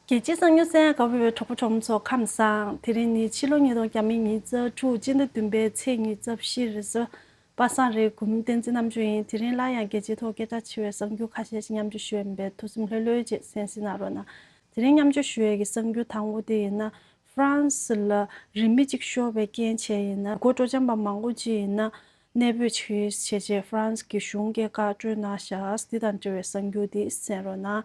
རྒྱལ་སྤྱིའི་གསང་ཉུལ་གསལ་དགའ་བོའི་གྲོགས་པོ་གྲོགས་མོ་ཚོ་ཁམས་བཟང་དེ་རིང་ནི་ཕྱི་ལོ་ཉིས་སྟོང་གྱ་མི་གཉིས་རྩ་དྲུག་སྤྱི་ཟླ་བདུན་པའི་ཚེས་གཉིས་རྩ་བཞི་རེད་བཟོད་པ་བསང་རེས་འགུམ་བསྟན་འཛིན་རྣམ་དཔྱོད་ཡིན་དེ་རིང་སླར་ཡང་རྒྱལ་སྤྱིའི་ཐོག་སྐད་གྲགས་ཆེ་བའི་གསང་རྒྱུད་ཁ་ཤས་ཤིག་མཉམ་སྤྱོད་ཞུ་ཡས་མིན་པའི་ཐུགས་སེམས་ལྷོད་ལྷོད་ཅིག་སེམས་སེ་ན་རོགས་གནང་དེ་རིང་མཉམ་སྤྱོད་ཞུ་ཡས་ཀྱི་གསང་རྒྱུད་དང་བོ་དེ་ཡིན་ན France ལ་རིན་མི་གཅིག་ཤོར་བའི་རྐྱེན་བྱས་ཡིན་ན་དགོད་བྲོ་འཇམ་པ་མང་པོ་ཅིག་ཡིན་ན་གནས་སྤོས་ཆིག་རིས་བྱས་རྗེས France གྱི་གཞུང་སྐད་བཀའ་བཀྲོལ་གནང་ཞགས་འདི་དང་འབྲེལ་བའི་གསང་རྒྱུད་འདི་གསན་རོགས་གནང།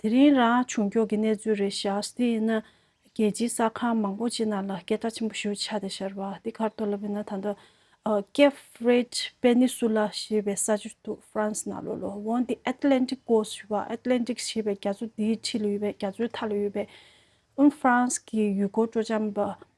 དེ་རིང་རང་བྱུང་སྐྱོར་གྱི་གནས་ཚུལ་རེ་བཞག་ཟིན་ཡིན་ན། རྒྱལ་སྤྱིའི་གསར་ཁང་མང་པོ་ཅིག་ནང་ལ་སྐད་བརྡ་ཆེན་པོ་ཞུ་འཆར་དེ་ཤར་བ་དེ་གར་ཐོར་ལབ་ཡིན་ན་ད་ལྟ། Cape Verde Peninsula ཞེས་པའི་ས་ཆར་འདུག་ཧྥ་རན་སི་ནང་ལོ་ལོ་བོང་སྟེ Atlantic Coast ཞེས་པ Atlantic ཞེས་པའི་རྒྱ་མཚོ་དེའི་འཁྲིས་ལ་ཡོད་པའི་རྒྱ་མཚོའི་མཐའ་ལ་ཡོད་པའི། ཧྥ་རན་སི་གི་ཡུལ་སྐོར་སྤྲོ་འཆམ་པ་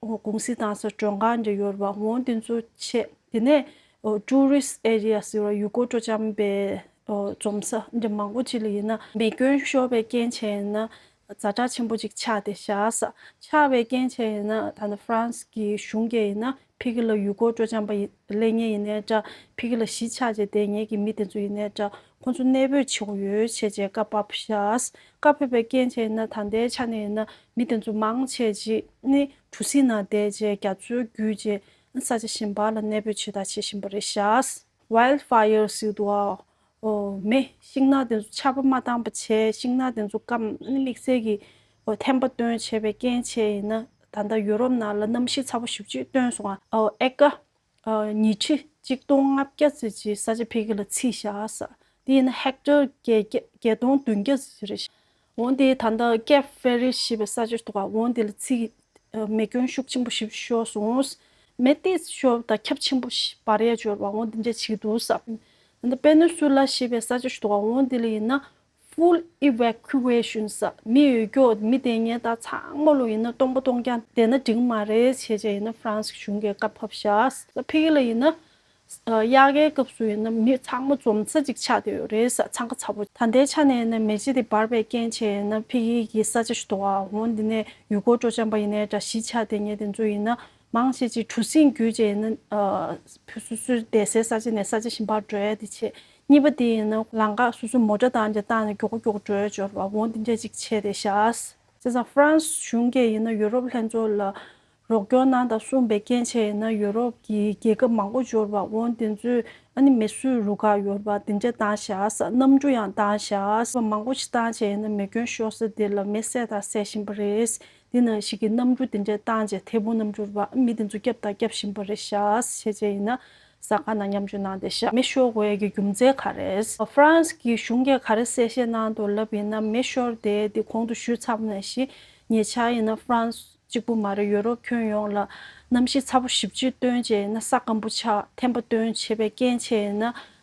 ཀུང་སི་དང་སོགས་གྲོན་ཁང་གི་ཡོལ་བ་དངོས་འདེམས་གཙོ་བྱས་དེ་ནས Tourist Area ཟེར་བ་ཡུལ་སྐོར་སྤྲོ་འཆམ་པའི་འཛོམས་ས་འདི་མང་པོ་ཅིག་ལ་ཡིན་ན་མེ་སྐྱོན་ཤོར་བའི་རྐྱེན་བྱས་ཡིན་ན་རྫ་བྲག་ཆེན་པོ་ཅིག་ཆགས་ཏེ་བཞག་ས་ཆགས་བའི་རྐྱེན་བྱས་ཡིན་ན་ད་ནི France གི་གཞུང་སྐད་ཡིན་ན་ཕི་ཁི་ལ་ཡུལ་སྐོར་སྤྲོ་འཆམ་པ་ལས་ངེས་ཡིན་ནའི་འདྲ་ཕི་ཁི་ལ་གཞིས་ཆགས་བྱས་དེ་ངེས་ཀྱི་མི་དེ་ཚོ་ཡིན་ནའི་འདྲ་ཁོ་ཚོ་གནས་སྤོས་བྱེད་དགོས་ཡོད་བྱས་རྗེས་བཀའ་ཕབ་བྱས། བཀའ་ཕབ་པའི་རྐྱེན་བྱས་ན་ད་ལྟའི་ཆ་ནས་ཡིན་ན་མི་དེ་ཚོ་མང་ཆེ་གཅིག་ནི་གྲུ་གཟིངས་ནང་བསྡད་རྗེས་རྒྱ་མཚོའི་བརྒྱུད་རྗེས་ས་ཆ་གཞན་པ་ལ་གནས་སྤོས་བྱེད་ཐག་བྱེད་བཞིན་པ་རེད་བྱས། Wild Fire སིལ་དུ་བ། མེ་ཤིང་ནགས་དེ་ཚོ་ཆར་པ་མ་བཏང་བ་བྱས་ཤིང་ནགས་དེ་ཚོ་སྐམ་དམིགས་བསལ་གྱི་ཐན་པ་བཏོན་བྱས་པའི་རྐྱེན་བྱས་ཡིན་ན་ད་ལྟ་ཡུ་རོབ་ནང་ལ་གནམ་གཤིས་ཚ་བོ་ཞིག་ཅིག་བཏོན་སོང་ཨ་ཨོ་ཨེ་ཀ། ཉི་ཁྲི་གཅིག་སྟོང་ལྔ་བརྒྱ་བརྩི་བྱའི་ས་ཆ་འཕེལ་རྒྱས་ལ་བརྩིས་བཞག་ས་དེ་ཡིན་ན་ཧེཀ་ཏར་བརྒྱད་སྟོང་བདུན་བརྒྱ་བརྩི་བྱ་རེད། འོན་ཏེ་ད་ལྟ་ཀེབ་བྷེ་རི་ཞེས་པའི་ས་ཆར་ཐོག་ཁ་འོན་དེ་ལ་བརྩིས་མེ་སྐྱོན་ཤུགས་ཆེན་པོ་ཞིག་ཤོར་སོང། མེ་གཏིས་ཤོར་དང་ཁྱབ་ཆེན་པོ་བར་ཡས་འབྱོར་བ་འོན་དེ་འདྲ་བྱས་འདུག་ས། ད་ལྟ་པེ་ནུ་སུ་ལ་ཞེས་པའི་ས་ཆར་ཐོག་ཁ་འོན་དེ་ལ་ཡིན་ན Full Evacuation ཟ་མི་ཡོད་རྒྱུའོ་མི་བདེན་གཉེན་རྟགས་ཚང་མ་ལོ་ཡིན་ན་སྟོང་པ་སྟོང་རྐྱང་བདེན་ན་འགྲིག་མ་རེད་བྱས་བྱས་ཡིན་ན་ཧྥ་རན་སི་གཞུང་གི་བཀའ་ཕབ་ཤགས་ད་ཕི་གི་ལ་ཡིན་ན་དབྱར་ཁའི་སྐབས་སུ་ཡིན་ན་མི་ཚང་མ་འཛོམས་ས་ཅིག་ཆགས་བསྡད་ཡོད་རེད་ས་ཚང་ཁ་ཚ་པོ་ད་ལྟའི་ཆ་ནས་ཡིན་ན་མེ་ལྕེ་དེ་འབར་བའི་རྐྱེན་བྱས་ཡིན་ན་ཕི་གི་གི་ས་ཆ་ཞུ་དོ་ཨ་འོང་འདི་ནས་ཡུལ་སྐོར་སྤྲོ་འཆམ་པ་ཡིན་ནའི་དྲ་གཞི་ཆགས་བསྡད་ངེས་དེ་ཚོ་ཡིན་ན་མང་ཤས་ཀྱིས་གྲུ་གཟིངས་བརྒྱུད་ཅེས་ཡིན་ན། བུ་སོ་སོའི་བསྡད་སའི་ས་ཆ་ནས་ས་ཆ་གཞན་པར་བགྲོད་ཡ་དེ་བྱེད། གཉིས་པ་དེ་ཡིན་ན་ལང་ཀ་སོ་སོའི་མོ་དགྲ་དང་འདྲ་བཏགས་ནས་མགྱོགས་མགྱོགས་བགྲོད་འབྱོར་བ་བོ་འདི་འདྲ་ཅིག་བྱེད་དེ་བཞག། བྱས་ཙང་ཧྥ་རན་སི་གཞུང་སྐད་ཡིན་ན་ཡུ་རོབ་ལྷན་ཚོགས་ལ་རོགས་སྐྱོར་གནང་དང་གསུངས་པའི་སྐྱེན་ཆས་ཡིན་ན་ཡུ་རོབ་ཀྱི་རྒྱལ་ཁབ་མང་པོ་འབྱོར་བ་བོ་འདི་ཚོས་ཨ་ནི་མེ་སུ་རུ་གར་ཡོད་པ་འདི་འདྲ་བཏང་བཞག་གནམ་གྲུ་ཡང་བཏང་བཞག་མང་པོ་ཞིག་བཏང་བྱས་ཡིན་ན་མེ་སྐྱོན་ཤོར་ས་དེ་ལ་མེ་བསད་དང་བསད་བཞིན་པ་རེད། དེ་ན་ཞིག་གི་རྣམ་འགྱུར་དེ་འདྲའི་བཏང་རྗེས་མཐེ་བོང་རྣམས་འགྱུར་བ་མི་དེ་ཚོ་བསྐྱབ་དང་བསྐྱབ་བཞིན་པ་རེད་ཤག་བྱས་རྗེས་ཡིན་ན་ས་ག་ན་མཉམ་སྤྱོད་གནང་སྟེ་ཤག་མེ་ཤོར་བའི་གི་རྒྱུ་མཚན་ག་རེད། France གི་གཞུང་གིས་ག་རེ་གསལ་བཤད་གནང་འདུག་ལབ་ཡིན་ན་མེ་ཤོར་དེ་དེ་གོང་དུ་ཞུས་ཚར་བ་ནས་བཞིན་ཉེ་ཆར་ཡིན་ན France གཅིག་པུ་མ་རེད་ཡོ་རོབ་ཁྱོན་ཡོངས་ལ་གནམ་གཤིས་ཚ་པོ་ཞིབ་ཕྱིར་བཏོན་རྗེས་ཡིན་ན་ས་སྐམ་པོ་ཆགས་ཐེམ་པ་བཏོན་བྱེད་པའི་རྐྱེན་བྱས་ཡིན་ན་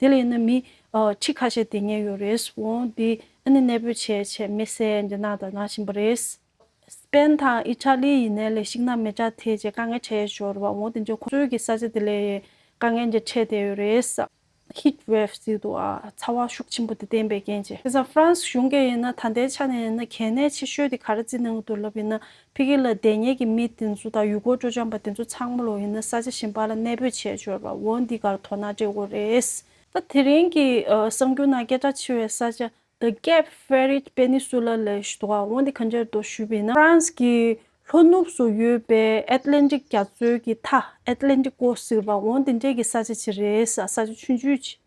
དེ་ལས་ནི་མི། ཁྲི་ཁ་ཤས་དེ་ཉལ་ཡོད་རེད། བོང་འདི་ཨ་ནི་གནས་སྤོས་བྱས་བྱས་མི་སེ་འདི་ནང་དང་ནང་བཞིན་པ་རེད། སི་པན་དང་ཨི་ཏྲ་ལི་ཡི་ནས་ལས་ཤིག་ནང་མི་དྲག་ཐེ་བྱས་དཀའ་ངལ་འཕྲད་ཞོར་རེད་བ་བོང་དེ་འཇོག་ཁོ་ཚོའི་གི་ས་ཆ་དེ་ལས་དཀའ་ངལ་འདི་འཕྲད་བསྡད་ཡོད་རེད། Heat Wave ཟེར་འདུག་ཨ། ཚ་བ་ཤུགས་ཆེན་པོ་དེ་བསྟན་པའི་རྐྱེན་གྱིས། དེ་སང་ཧྥ་རན་སི་གཞུང་གིས་ཡིན་ན་ད་ལྟའི་ཆ་ནས་ཡིན་ན་གལ་གནད་ཆེ་ཤོས་དེ་ག་རེ་རྩིས་གནང་གི་འདུག་ལབ་ཡིན་ན་ཕི་ཀི་ལ་བདེན་གཉེར་གྱི་མི་དེ་ཚོ་དང་ཡུལ་སྐོར་སྤྲོ་འཆམ་པ་དེ་ཚོ་ཚང་མ་ལོག་ཡིན་ན་ས་ཆ་གཞན་པ་ལ་གནས་སྤོས་བྱས་འབྱོར་བ་འོ་འདི་གར་དོ་སྣང་སྤྲད་དགོས་རེད། ད་དེ་རིང་གི་གསར་འགྱུར་ནང་སྐད་གྲགས་ཆེ་བའི་ས་ཆ The Cape Ferret Peninsula ལ་ཞུ་དོགས་འོ་འདི་ག་འདྲར་འདུག་ཞུས་པས་ན། France གི་ལྷོ་ནུབ་སུ་ཡོད་པའི Atlantic རྒྱ་མཚོའི་གི་མཐའ Atlantico ཟེར་བ་འོ་འདི་འདྲའི་གི་ས་ཆ་ཆེ་རེད་ས་ཆ་ཆུང་ཆུང་ཆེ།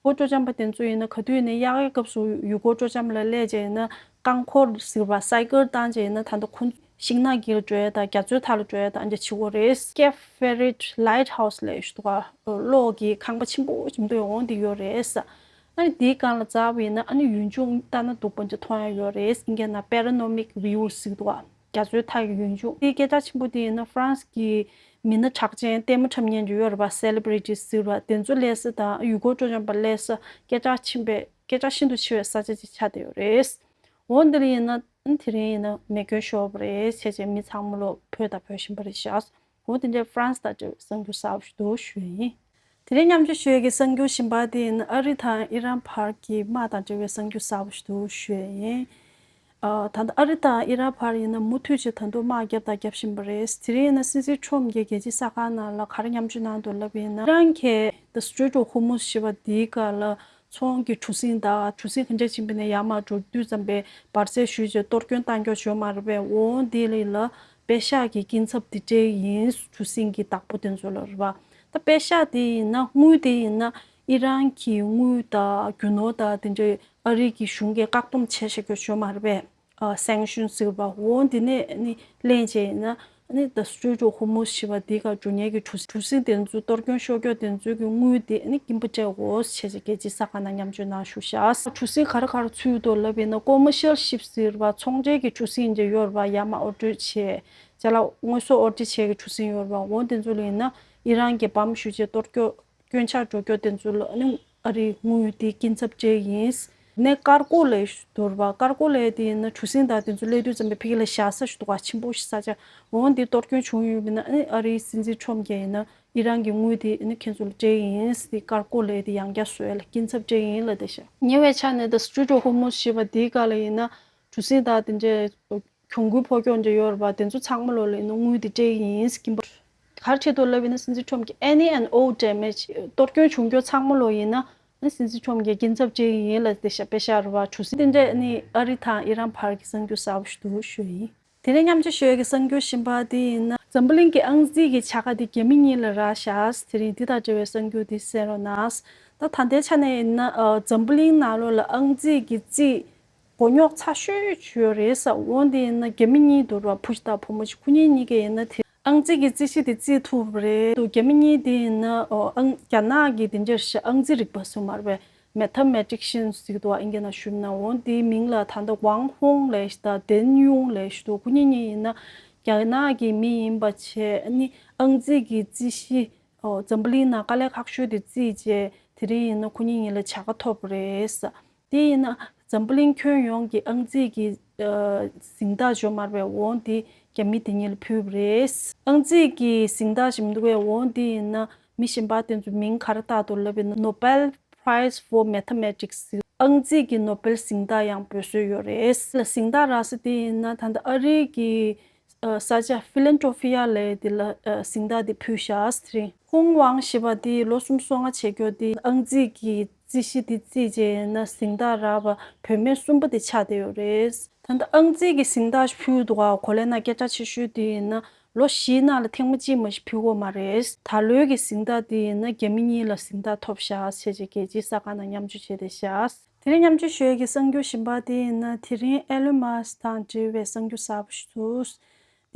སྒོ་སྤྲོ་འཆམ་པ་དེ་ཚོ་ཡིན་ན་ག་དུས་ནས་གཡག་ཡའི་སྐབས་སུ་ཡུལ་སྒོ་སྤྲོ་འཆམ་ལ་སླེ་བྱས་ཡིན་ན་རྐང་འཁོར་གཟིར་བ་སའི་སྐར་བཏང་བྱས་ཡིན་ན་ད་ལྟ་ཁོ་ཚོ་ཤིང་ནགས་ཀྱི་ལ་བྲོས་དང་རྒྱ་མཚོའི་མཐའ་ལ་བྲོས་དང་རྒྱ་ཆི་བོ་རེད། Cape Ferret Lighthouse ལས་ཞུ་བ་གློག་གི་ཁང་པ་ཆེན་པོ་ཆེན་པོ་ཡོང་དེ་ཡོད་རེད། ཨ་ནི་དེའི་སྒང་ལ་རྩ་བ་ཡིན་ན་ཨ་ནི་ཡུལ་ལྗོངས་ལྟ་ན་སྡུག་པ་འདྲ་མཐོང་ཡང་ཡོད་རེད། འགལ་ན Paranomic View ཟིག་འདུག། རྒྱ་མཚོའི་མཐའ་ཡི་ཡུལ་མཇུག་དེའི་སྐད་ཆ་ཆེན་པོ་དེ་ཡིན་ན་ཧྥ་རན་སི་གྱི་མི་སྣ་གྲགས་ཅན་ལྟད་མོ་འཁྲབ་ཉན་གྱི་ཡོད་རེད་པ Celebrities ཟེར་བ་དེ་ཚོ་ལས་སི་དང་ཡུལ་སྐོར་སྤྲོ་འཆམ་པ་ལས་སི་སྐད་ཆ་ཆེན་པའི་སྐད་ཆ་ཤིན་ཏུ་ཆེ་བའི་ས་ཆ་ཅིག་ཆགས་བསྡད་ཡོད་རེད། འོ་འདི་རིང་ཡིན་ན་དེ་རིང་ཡིན་ན་མེ་སྐྱོན་ཤོར་བ་རེད་བྱས་བྱས་མི་ཚང་མ་ལོ་བོད་ད་བོད་བཞིན་པ་རེད་ཤག་ཁོང་དེ་འདྲའི France དང་འབྲེལ་བའི་གསར་འགྱུར་གསར་བ་ཞིག་དོགས་ཞུས་ཡིན། དེ་རིང་མཉམ་འབྱོར་ཞོལ་གྱི་གསར་འགྱུར་ཞིབ་འབར་དེ་ཡིན་ཨ་རི་དང་ཨི་རན་བར་གྱི་དམག་དང་འབྲེལ་བའི་གསར་འགྱུར་གསར་བ་ཞིག་དོགས་ཞུས་ཡིན། ད་ལྟ་ཨ་རི་དང་ཨི་རན་བར་ཡིན་ན་མུ་མཐུད་ཅིག་ད་དུང་དམག་བརྒྱབ་དང་བརྒྱབ་བཞིན་པ་རེད། དེ་རིང་ཡིན་ན་སི་སི་ཁྲོམ་གྱི་རྒྱལ་སྤྱིའི་གསར་ཁང་ནང་ལ་ག་རེ་མཉམ་འབྱོར་གནང་འདུག་ལབ་ཡིན་ན། ཨི་རན་གྱིས The Strait of Hormuz ཞེས་པ་དེའི་སྐབས་ལ་ཚོང་གི་གྲུ་གཟིངས་དང་གྲུ་གཟིངས་གང་འདྲ་བྱིན་པ་ནས་ཡར་མར་འགྲོ་དུས་ཙམ་པའི་བར་ཚད་ཞུས་རྗེས་གཏོར་སྐྱོན་གཏང་འཇོག་བྱོས་མ་རེད་པས་འོང་འོང་དེ་རིང་ལ་པའི་ཤགས་ཀྱི་སྐྱིན་ཚབ་དེ་འདྲའི་ཡིན་གྲུ་སིང་གི་བདག་པོ་དེ་ཚོ་ལ་རེད་པ། ད་པའི་ཤགས་དེ་ཡིན་ན་དངུལ་དེ་ཡིན་ན་ཨི་རན་གྱི་དངུལ་དང་རྒྱུ་ནོར་དང་དེ་འདྲའི་ཨ་རིག་གི་གཞུང་གིས་བཀག་སྡོམ་བྱས་ཤག་རྒྱུ་ཆོས་མ་རེད་པས། Sanction ཟེར་བ་འོ་འདི་ནས་ནི་གླེང་བྱས་ཡིན་ན་ནི་ད Strait of Hormuz ཞེས་པ་དེ་ག་འབྲུ་ཉལ་གྱི་གྲུ་གཟིངས་དེ་ཚོའི་གཏོར་སྐྱོན་ཤོར་སྐྱོ་དེ་ཚོའི་གི་དངུལ་དེ་ནི་སྐྱིན་པོ་ཏྲེ་ཨོ་ཟེར་བྱས་ཀྱི་རྒྱལ་སྤྱིའི་ས་ཁང་ན་མཉམ་སྤྱོད་གནང་ཞུ་ཤགས། གྲུ་གཟིངས་ག་རེ་ག་རེ་ཚུད་འདུག་ལབ་ཡིན་ན Commercial Ship། ཟེར་བ་ཚོང་འབྲེལ་གྱི་གྲུ་གཟིངས་དེ་ཡོར་བ་ཡ་མ་ཨོ་སྤྲོད་བྱེད་བྱས་ལ་དངོས་ཟོག་ཨོ་སྒྲིལ་བྱེད་ཀྱི་གྲུ་གཟིངས་ཡོར་བ་འོ་དེ་ཚོ་ལ་ཡིན་ན་ཨི་རན་རྒྱལ་ཕམ་ཞུ་བྱེད་གཏོར་སྐྱོད་སྐྱོན་ཆག་འགྲོ་སྐྱོད་དེ་ཚོ་ལ་ནི་ཨ་རིའི་དངུལ་དེ་སྐྱིན་ཚབ་སྤྲད་ཡིན། ནས་ཀར་ཀོ་ལའི་དོར་བ་ཀར་ཀོ་ལའི་དེ་ཡིན་ན་གྲུ་གཟིངས་དག་དེ་ཚོ་སླེ་དུས་ཙམ་པའི་ཕི་གི་ལ་བཞག་ས་ཞུ་དོ་ག་ཆེན་པོ་ཞིག་ས་ཆ་འོ་དེ་གཏོར་སྐྱོན་བྱུང་ཡོད་པ་ནི་ཨ་རིའི་སྲིད་འཛིན་ཁྲོམ་རྒྱལ་ཡིན་ན་འདི་རང་གི་དངུལ་དེ་ནི་ཁྱེད་ཚོ་ལ་སྤྲད་ཡིན་དེ་དཀར་བཀོད་ལས་དེ་ཡང་བསྐྱར་བཟོས་ལ་སྐྱིན་ཚབ་སྤྲད་ཡིན་ལ་དེ་བཞག། ཉེ་བའི་ཆ་ནས The Street of Hormuz ཞེས་པ་འདིའི་སྐར་ལ་ཡིན་ན་གྲུ་གཟིངས་དག་དེ་འདྲའི་གྱོང་གུན་ཕོག་ཀྱོག་འདྲ་ཡོད་རེད་པ་དེ་ཚོ་ཚང་མ་ལོ་ལེགས་ནས་དངུལ་དེ་སྤྲད་ཡིན་དེ་སྐྱིན་པ་གར་ཁྱེད་ཚོ་ལབ་ཡིན་ན་སྲིད་འཛིན Trump གྱིས Any and All Damage གཏོར་སྐྱོན་བྱུང་ཀྱོག་ཚང་མ་ལོ་ཡིན་ན་ནི་སྲིད་འཛིན Trump གྱིས་སྐྱིན་ཚབ་སྤྲད་ཡིན་ལ་དེ་བཞག་པས་བཞག་རེད་པ་གྲུ་གཟིངས་དེ་འདྲས་ནི་ཨ་རི་དང་ཨི་རན་བར་གྱི་གསང་རྒྱུ་གསར་བ་ཞིག་ཏུ་བཞུགས་ཡིན། དེ་ནས་མཉམ་རྗེ་ཞོལ་གྱི་གསང་རྒྱུད་གཤིན་པ་འདི་ཡིན་ན། འཛམ་བུ་གླིང་གི་ཨང་རྩིས་ཀྱི་བྱ་དགའ་འདི་རྒྱ་མི་གཉིས་ལ་རག་ཤགས་དེ་རིང་འདི་དང་འབྲེལ་བའི་གསང་རྒྱུད་འདི་གསན་རོགས་གནང། ད་ད་ལྟའི་ཆ་ནས་ཡིན་ན་འཛམ་བུ་གླིང་ནང་ལོ་ལ་ཨང་རྩིས་ཀྱི་རྩིས། མགོ་རྙོག་ཚ་ཤོས་ཤོས་ཡོད་རེད་བསམ་འོང་དེ་ཡིན་ན་རྒྱ་མི་གཉིས་འདུག་ར་བུ་ཞིག་དང་བུ་མོ་ཞིག་ཁོ་གཉིས་གཉིས་ཀས་ཡིན་ན་དེ། ཨང་རྩིས་ཀྱི་རྩིས་གཞི་དེ་རྩིས་ཐུབ་རེད་འདུག་རྒྱ་མི་གཉིས་དེ་ཡིན་ན་ཨང། རྒྱ་ནག་གི་དེ་འདྲའི་ཞེས་ཨང་རྩིས་རིག་པ་སུ་མར་བའི Mathematician ཞིག་འདུག་ཨིན་རྒྱ་ནག་གཞུང་ན་འོང་དེའི་མིང་ལ་ད་ལྟ Wang Hong Lesh དང Deng Yun Lesh འདུག་ཁོ་གཉིས་གཉིས་ཡིན་ན་རྒྱ་ནག་གི་མི་ཡིན་པ་ཆེ་ནི་ཨང་རྩིས་ཀྱི་རྩིས་གཞི་འཛམ་བུ་གླིང་ན་དཀའ་ལས་ཁག་ཤོས་དེ་རྩིས་རྗེས་དེ་རིང་ཡིན་ན་ཁོ་གཉིས་གཉིས་ལ་བྱ་དགའ་ཐོབ་རེད། དེ་ཡིན་ན་འཛམ་བུ་གླིང་ཁྱོན་ཡོངས་ཀྱི་ཨང་རྩིས་ཀྱི་གཟེངས་རྟགས་འཇོག་མར་བའི་བོང་དེ་རྒྱ་མི་དེ་ཉིད་ལ་ཕུལ་བ་རེད། ཨང་རྩིས་ཀྱི་གཟེངས་རྟགས་བཞེས་མི་འདུག་པའི་བོང་དེ་ཡིན་ན་མི་གཞན་པ་དེ་ཚོའི་མིང་གར་བཏགས་འདུག་ལབ་པའི Nobel Prize for Mathematics ཨང་རྩིས་ཀྱི་ནོ་སྦེལ་གཟེངས་རྟགས་ཡང་འབུལ་སྲོལ་ཡོད་རེད། གཟེངས་རྟགས་རག་ས་དེ་ཡིན་ན་ད་ལྟ་ཨ་རིའི་གི་ས་བཅའ Philanthropia ལས་འདི་ལ་གཟིངས་རྟགས་འདི་ཕུལ་ཤཱས་རི། ཧུང་ཝང་ཞེས་པ་འདིས་ལོ་གསུམ་སོ་ལྔ་བྱེད་འགྱོ་དེ་ཨང་རྩིས་ཀྱི་རྩིས་གཞི་འདི་རྩིས་རྗེས་ན་གཟིངས་རྟགས་རག་པ་བུད་མེད་གསུམ་པོ་དེ་ཆགས་བསྡད་ཡོད་རེད། ད་ལྟ་ཨང་རྩིས་ཀྱི་གཟིངས་རྟགས་ཕུལ་འདུག་བ་གོ་ལས་ན་སྐད་གྲགས་ཆེ་ཤོས་དེ་ཡིན་ན་ལོ་བཞིའི་ནང་ལ་ཐེངས་མ་གཅིག་མ་གཞི་ཕུལ་འོ་མ་རེད། ད་ལོའི་གི་གཟིངས་རྟགས་འདི་ཡིན་ན་རྒྱ་མི་གཉིས་ལ་གཟིངས་རྟགས་ཐོབ་ཤཱས་ཆེ་རྗེ་རྒྱལ་སྤྱིའི་ས་ཁང་ནང་མཉམ་འཇུ་བྱས་ཏེ་ཤཱས་དེ་ནས་མཉམ་སྤྱོད་ཞོལ་གྱི་གསང་རྒྱུད་གཞན་པ་དེ་ཡིན་ན་དེ་རིང་ཨེ་ལོན་མཱ་སི་དང་འབྲེལ་བའི་གསང་རྒྱུད་གསར་པ་ཞིག་འདུག་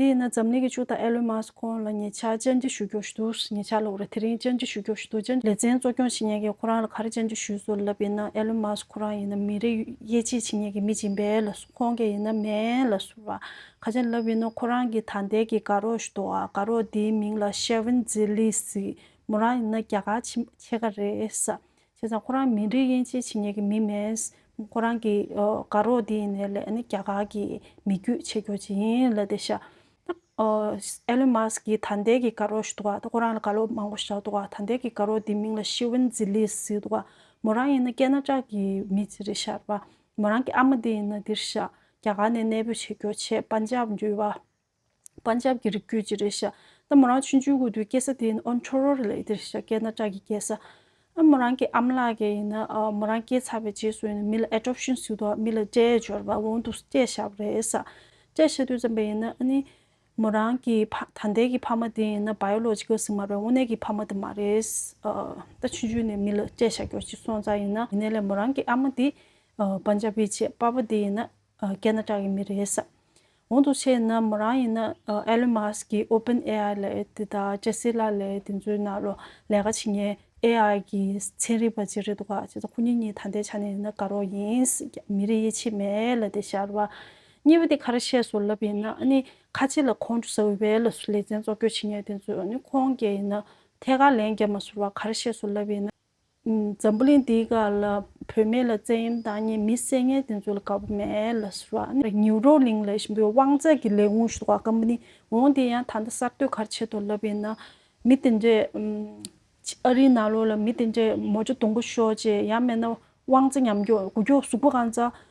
དེ་ཡིན་ན་འཛམ་གླིང་གི་ཅུང་དང་ཨེ་ལོན་མཱ་སི་ཁོང་ལ་ཉེ་ཆར་བཅར་འདྲི་ཞུ་རྒྱུ་ཞིག་འདུག་ཉེ་ཆར་ལོ་རེ་དེ་རིང་བཅར་འདྲི་ཞུ་རྒྱུ་ཞིག་འདུག་བཅར་འདྲི་ལེ་ཚན་གཙོ་སྐྱོང་བྱེད་མྱེད་མཁན་ཁོ་རང་ལ་ག་རེ་བཅར་འདྲི་ཞུས་སོ་ལབ་ཡིན་ན་ཨེ་ལོན་མཱ་སི་ཁོ་རང་ཡིན་ན་མི་རེ་དབྱེ་འབྱེད་བྱེད་མྱེད་མཁན་མི་སྦྱིན་པས་ལ་སོ་ཁོང་གས་ཡིན་ན་མེན་ལ་སོ་བ་ག་ཅན་ལབ་ཡིན་ན་ཁོ་རང་གི་ད་ལྟའི་གི་དགའ་རོགས་ཞིག་འདུག་ཨ་དགའ་རོགས་དེའི་མིང་ལ་ཤེ་ཝིན་ཛི་ལི་སི་མོ་རང་ཡིན་ན་རྒྱ་གར་ཕྱི་མ་ཁྱེད་ག་རེ་ས་བྱས་ཙང་ཁོ་རང་མི་རིགས་དབྱེ་འབྱེད་བྱེད་ཉེས་ཀྱི་མི་མེད། ཁོ་རང་གི་དགའ་རོགས་དེ་ཡིན་ནའི་ལས་ནི་རྒྱ་གར་གྱི་མི་རྒྱུད་ཆེ་སྐྱོར་བྱེད་ཡིན་ལ་དེ་ཤ Elon Musk གྱི་ད་ལྟའི་གི་དགའ་རོགས་ཞུ་འདུག་ག་ཁོ་རང་ལ་དགའ་རོགས་མང་པོ་བཞག་འདུག་ག་ད་ལྟའི་གི་དགའ་རོགས་དེ་མིང་ལ་ཤི་ཝིན་ཛི་ལིས་ཟེར་འདུག་ག་མོ་རང་ཡིན་ན་ཀེ་ན་ཀྲ་གྱི་མི་ཚེ་རེད་ཤར་བ། མོ་རང་གི་ཨ་མ་དེ་ཡིན་ན་འདིར་ཤར་རྒྱ་གར་ནས་གནས་སྤོས་བྱེད་སྐྱོར་ཆེད་པན་ཇབ་འཇུས་བ། པ་འཇབ་ཀྱི་རིགས་རྒྱུད་ཅི་རེད་ཤ་ད་མོ་རང་ཆུ་འཇུ་དགོས་དུས་སྐྱེ་ས་དེ་ཡིན་ཨོ་འཕྲོ་རོ་རེད་ལས་འདིར་ཤ་སྐྱེ་ན་སྐྲག་གི་སྐྱེ་ས་ཨ་མོ་རང་གི་ཨ་མ་ལགས་ཀྱི་ཡིན་ན་མོ་རང་སྐྱེ་ཚར་བའི་རྗེས་སུ་ཡིན་ན་མི་ལ Adoption བཟོས་འདུག་མི་ལ་སྐྲའི་སྦྱོར་བ་འོང་འདུག་སྐྱེ་ཤ་བ་རེད་ས་སྐྲའི་ཤ་དུས་ཙམ་པའི་ཡིན་ན་ཨ་ནི་མོ་རང་གི་ད་ལྟའི་གི་ཕ་མ་དེ་ཡིན་ན Biological སི་མ་རེད་དངོས་གནས་གི་ཕ་མ་དེ་མ་རེད་ད་ཆུ་འཇུ་ནས་མི་ལ་སྐྲའི་ཤ་སྐྱོར་ཅིག་སོང་ཙང་ཡིན་ན་ཡིན་ནའི་ལས་མོ་རང་གི་ཨ་མ་དེ་པ་འཇབ་པའི་བྱེད་པ་པ་དེ་ཡིན་ན་རྒྱ་ནག་གྲགས་ཡིན་མི་རེད་བསམ། གོང་དུ་བཤད་ན་མོ་རང་ཡིན་ན Elon Musk གིས Open AI ལས་དེ་དང་ལྕེ་སི་ལ་ལས་དེ་ཚོའི་ནང་ལོ་ལས་ཀ་བྱེད་ངེས AI གི་ཚན་རིག་པ་གཅིག་རེད་འདུག་ག་ཁོ་གཉིས་གཉིས་ད་ལྟའི་ཆ་ནས་ཡིན་ན་དགའ་རོགས་ཡིན། མི་རིགས་ཡིད་ཆེས་མེད་ལ་དེ་ཞར་བ། གཉིས་པ་དེ་ཁ་ར་ཤས་སུ་ལབ་ཡིན་ན་ཨ་ནི་ཁ་ཆེ་ལ་ཁོང་ཁྲོ་ཟ་འོས་པའི་ལ་སུ་ལེ་ཚན་བཙོག་སྐྱོ་བྱེད་ངེས་དེ་ཚོས་ཨ་ནི་ཁོང་རྒྱལ་ཡིན་ན་ཐད་ཀར་ལན་རྒྱབ་མ་ཟུར་བ་ཁ་ར་ཤས་སུ་ལབ་ཡིན་ན། འཛམ་བུ་གླིང་འདིའི་ག་ལ་བོད་མི་ལ་བཙན་གཡེམ་དང་གཉིས་མི་བསད་ངན་དེ་ཚོ་ལ་དགའ་པོ་མེད་ལ་ཟེར་བ་ནི་ཉིའུ་རོ་གླིང་ལས་གཞན་པའི་དབང་རྩལ་གྱི་ལས་ཁུངས་ཞུ་བ་སྐམ་པོ་ནི་འོང་དེ་ཡང་ད་ལྟ་གསར་གཏོད་གར་ཆེད་དུ་ལབ་ཡིན་ན་མི་དེ་འདྲས་ཨ་རིའི་ནང་ལོགས་ལ་མི་དེ་འདྲས་མོ་ཅོ་དུང་པོ་ཤོར་རྗེས་ཡང་མེད་ན་དབང་རྩལ་ཉམས་འགྱོག་དགུ་འགྱོག་ཟུག་པོ་གང་ཚ་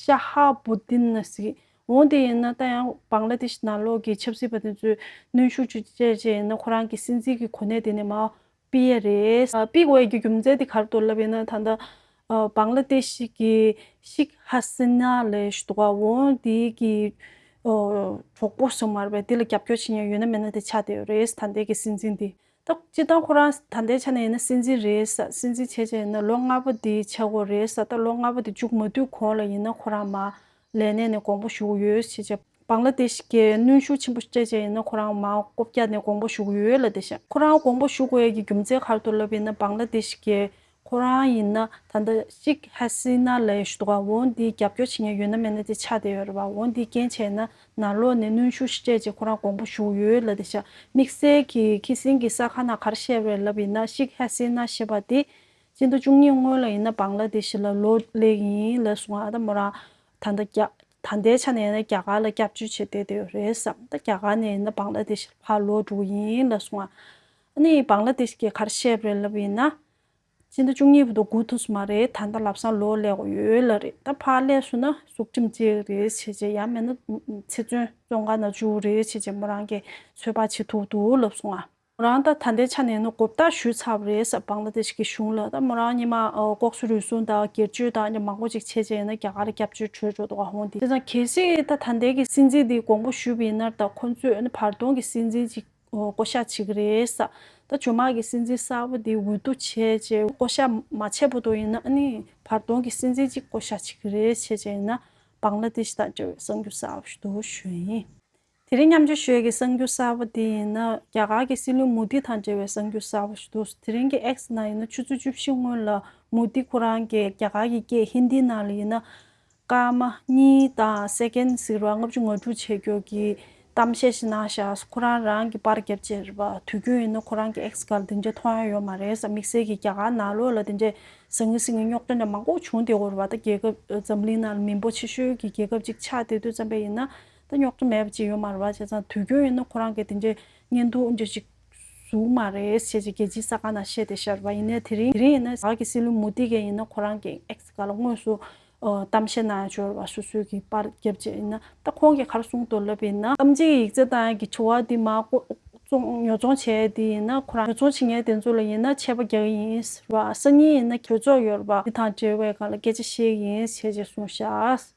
ཤ་ཧ་བྷུ་དིན་ལ་སི། འོན་ཏེ་ཡིན་ན་ད་ཡང་བཱང་ལ་དེ་ཤི་ནང་ལོགས་ཀྱི་ཆབ་སྲིད་པ་དེ་ཚོས་གནོན་ཤུགས་ཅུ་སྤྱད་ཆེད་ཡིན་ན་ཁོ་རང་གི་སྲིད་འཛིན་གྱི་གོ་གནས་དེ་ནས་མའོ་སྤི་ཡ་རེད། སྤི་ཝེ་ཀྱི་རྒྱུ་མཚན་དེ་གར་དུ་ལབ་ཡིན་ན་ད་ལྟ་བཱང་ལ་དེ་ཤི་གི་ཤིག་ཧ་སི་ན་ལས་ཞུ་དོ་ག་འོན་དེ་གི་གྲོགས་པོ་ཞིག་མ་རེད་པས་དེ་ལ་རྒྱབ་སྐྱོར་བྱེད་མྱོང་ཡོད་ན་མེད་ན་དེ་ཆ་དེ་ཡོད་རེད་ད་ལྟའི་གི་སྲིད་འཛིན་དེ། ད་སྤྱིར་བཏང་ཁོ་རང་ད་ལྟའི་ཆ་ནས་ཡིན་ན་སྲིད་འཛིན་རེད་ས་སྲིད་འཛིན་བྱས་བྱས་ཡིན་ན་ལོ་ལྔ་པོ་འདི་བྱེད་དགོས་རེད་ས་ད་ལོ་ལྔ་པོ་འདི་བཅུག་མ་བསྡུས་གོང་ལ་ཡིན་ན་ཁོ་རང་མ་ལས་གནས་ནས་དགོངས་པ་ཞུ་ཡོད་བྱས་བྱས་བང་ལ་དེ་ཞིག་གིས་གནོན་ཤུགས་ཆེན་པོ་སྤྲད་བྱས་ཡིན་ན་ཁོ་རང་མ་ལྐོ་བརྒྱ་ནས་དགོངས་པ་ཞུ་ཡོད་ལ་དེ་བྱས་ཁོ་རང་དགོངས་པ་ཞུ་དགོས་ཡ་གི་རྒྱུ་མཚན་གར་དུ་ལབ་ཡིན་ན་བང་ལ་དེ་ཞིག་གིས་ཁོ་རང་ཡིན་ན་ད་ལྟ་གཅིག་ཧད་སྲིད་ན་ལས་ཡོད་འདུག་ག་འོ་འདིའི་རྒྱབ་སྐྱོར་བྱེད་མཁན་ཡོད་ན་མེད་ན་དེ་ཆ་དེ་ཡོད་རེད་བ་འོ་འདིའི་རྐྱེན་བྱས་ན་ན་ལོ་ནས་གནོན་ཤུགས་ཤི་སྤྲད་ཅེས་ཁོ་རང་དགོངས་པ་ཞུ་ཡོད་ལ་དེ་ཤ་མིག་སེར་གྱི་ཁི་སིན་གྱི་ས་ཁ་ན་གར་བཤད་རེད་ལབ་ཡིན་ན་གཅིག་ཧད་སྲིད་ན་ཞེས་པ་དེ་སྤྱི་ཟླ་བཅུ་གཉིས་སྔོན་ལ་ཡིན་ན་བང་ལ་དེ་ཤི་ལ་ལོ་ལེགས་ཡིན་ལེ་གསུང་ང་ད་མོ་རང་ད་ད་རྒྱ་ད་ལྟའི་ཆ་ནས་ཡིན་ན་རྒྱ་གར་ལ་སྐྱབས་བཅོལ་བྱེད་བསྡད་དེ་ཡོད་རེད་བསམ་ད་རྒྱ་གར་ནས་ཡིན་ན་བང་ལ་དེ་ཤི་ལ་ཕར་ལོག་འགྲོ་གི་ཡིན་ལེ་གསུང་ང། གནས་ཡིག་བང་ལ་དེ་ཞིག་གི་ཁར་བཤད་པའི་ལབ་ཡིན་ན། སྤྱི་ཟླ་བཅུ་གཉིས་པ་དང་དགུ་ཐུགས་སུ་མ་རེད་ད་ལྟ་ལབ་སང་ལོ་ལེགས་དགུ་ཡོད་ལ་རེད་ད་ཕར་ལས་སུ་ན་གཟུགས་ཁྲིམས་གཅིག་རེད་བྱས་རྗེས་ཡ་མེད་ན་ཚེ་བཙོན་ཙོང་ཁ་ན་བཅུག་རེད་བྱས་རྗེས་མོ་རང་གི་ཚོད་དཔག་བྱེད་ཐུག་འདུག་ལབ་སོང་ང། མོ་རང་ད་ད་ལྟའི་ཆ་ནས་ནི་གོ་བརྡ་ཞུས་ཚར་བ་རེད་བང་ལ་དེ་ཞིག་གི་གཞུང་ལ་ད་མོ་རང་ཉི་མ་ལྐོག་གསོད་རུལ་སུངས་དང་སྒེར་གཅོད་དང་མང་པོ་ཅིག་བྱས་རྗེས་ཡིན་ན་རྒྱ་གར་སྐྱབས་བཅོལ་ཁྲོད་འགྲོ་དགོས་འོང་དེ་བཟང་གལ་སྲིད་ད་ད་ལྟའི་གི་སྲིད་འཛིན་དེ་དགོངས་པ་ཞུས་པ་ཡིན་ན་ད་ཁོ་ཚོས་ནི་བར་སྟོང་གི་སྲིད་འཛིན་ཅིག་ཨོ་བསྐོ་བཞག་བྱེད་ཀྱི་རེད་ས། ད་ཇོ་མག་གི་སྲིད་འཛིན་གསར་བ་དེ་འོས་བསྡུ་བྱས་རྗེས་བསྐོ་བཞག་མ་བྱས་པོ་དོ་ཡིན་ན་ནི་བར་སྟོང་གི་སྲིད་འཛིན་གཅིག་བསྐོ་བཞག་བྱེད་ཀྱི་རེད་བྱས་རྗེས་ཡིན་ན་བང་ལ་དེ་ཞི་དང་འབྲེལ་བའི་གསང་རྒྱུ་གསར་བ་ཞུ་དོ་ཞུ་ཡིན། དེ་རིང་མཉམ་འབྱོར་ཞོལ་གྱི་གསང་རྒྱུ་གསར་བ་དེ་ཡིན་ན་རྒྱ་གར་གྱི་སྲིད་བློན་མུ་དྷི་དང་འབྲེལ་བའི་གསང་རྒྱུ་གསར་བ་ཞུ་དོ་དེ་རིང་གི X ནང་ཡིན་ན་ཆུ་ཚོད་བཅུ་བཞི་སྔོན་ལ་མུ་དྷི་ཁོ་རང་གིས་རྒྱ་གར་གྱི་སྐད་ཧིན་དྷི་ནང་ལ་ཡིན་ན་སྐར་མ་གཉིས་དང Second Second བར་ལྔ་བཅུ་ང་དྲུག་བྱེད་རྒྱུ་གི་གཏམ་བཤད་ཞིག་གནང་ཤག་ཁོ་རང་རང་གི་པར་རྒྱབ་ཅེར་བ་དུས་རྒྱུན་ཡིན་ན་ཁོ་རང་གི X གར་དེ་འདྲ་མཐོང་ཡ་ཡོད་མ་རེད་ས་དམིགས་བསལ་གྱི་རྒྱ་གར་ནང་ལོ་ལ་དེ་འདྲའི་ཟང་ངུ་ཟིང་ངུའི་རྙོག་དྲ་འདྲ་མང་པོ་བྱུང་སྟེ་འོར་བ་ད་རྒྱལ་ཁབ་འཛམ་གླིང་ནང་ལ་མི་འབོར་ཆེ་ཤོས་ཀྱི་རྒྱལ་ཁབ་ཅིག་ཆགས་དེ་དུས་ཙམ་པའི་ཡིན་ན་ད་རྙོག་དྲ་མེད་པ་ཅིག་ཡོད་མ་རེད་བ་བྱས་ཙང་དུས་རྒྱུན་ཡིན་ན་ཁོ་རང་གི་དེ་འདྲའི་བརྙན་ཐུང་འདྲ་ཞིག། གཟུགས་མ་རེད་ཞེས་རྒྱལ་སྤྱིའི་ས་ཁང་ནང་བཤད་དེ་ཤར་བ་ཡིན་ནའི་དེ་རིང་ཡིན་ན་བདག་གི་སྲིད་བློན་མུ་དྷི་ག་ཡིན་ན་ཁོ་རང་གི་ཨེག་སི་ཀ་ལ་དངོས་སུ་གཏམ་བཤད་གནང་ཡང་འབྱོར་བ་སོ་སོའི་གི་པར་རྒྱབ་རྗེས་ཡིན་ན་ད་ཁོང་གི་ཁར་སྲུང་དོར་ལབ་ཡིན་ན། གཏམ་བྱེད་ཀྱི་ཡིག་ཆ་དང་གི་དྲི་བ་དེ་མ་བཙོང་ཉོ་ཚོང་བྱས་དེ་ཡིན་ན་ཁོ་རང་ཉོ་ཚོང་བྱེད་མཁན་དེ་ཚོ་ལ་ཡིན་ན་ཆད་པ་རྒྱག་གི་ཡིན་ཟེར་བ་གསར་རྙིང་ཡིན་ན་གྲོས་ཚོགས་ཡོད་རེད་པ་དེ་དང་འབྲེལ་བའི་ག་ལ་སྐད་ཆ་བཤད་ཀྱི་ཡིན་ཞེས་ཀྱི་གསུངས་ཤག